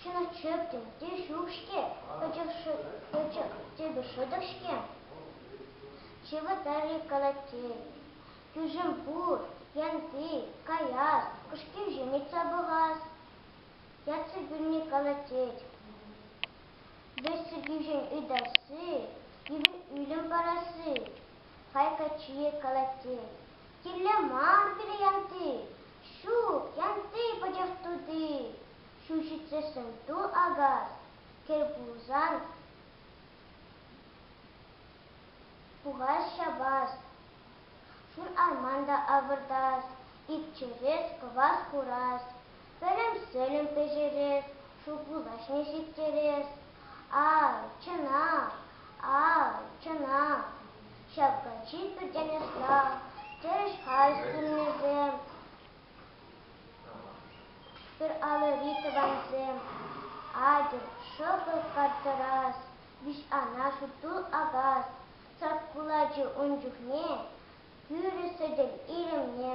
Чуна чӗптӗм те ҫук-ҫке, пӗчӗк типӗ шӑтӑк-ҫке. Ҫывӑтар-и колотень? Кӳшӗм пур, янти, каяс, кӑшкирҫӳ ыйтса пӑхас. Ятсӑр кӳлни колотет. Вӗҫсӗркӳҫӗн ытасси, кивӗ ӳлӗм парасси. Хай каччийӗ колотень. Кирлӗ мар пире янти. Ҫук, янти пачах тути. Ҫул ҫитсессӗн ту акас, кӗл пулсан пухас ҫапас, шур арман та авӑртас, ит чӗрес, кӑвас курас, пӗлӗм-сӗлӗм пӗҫерес, шыв пулаҫне ҫитерес. Ай, чӑнах, ай, чӑнах, ҫапка чир пӗртен ӑсла, тӗрӗс хай суннисем. Пӗр алӑри тӑвансем, атьӑр, шӑпӑл карттӑрас, виҫ-ана сутул акас, сак кулачи ун чухне тӳрӗ сӗтел илемне.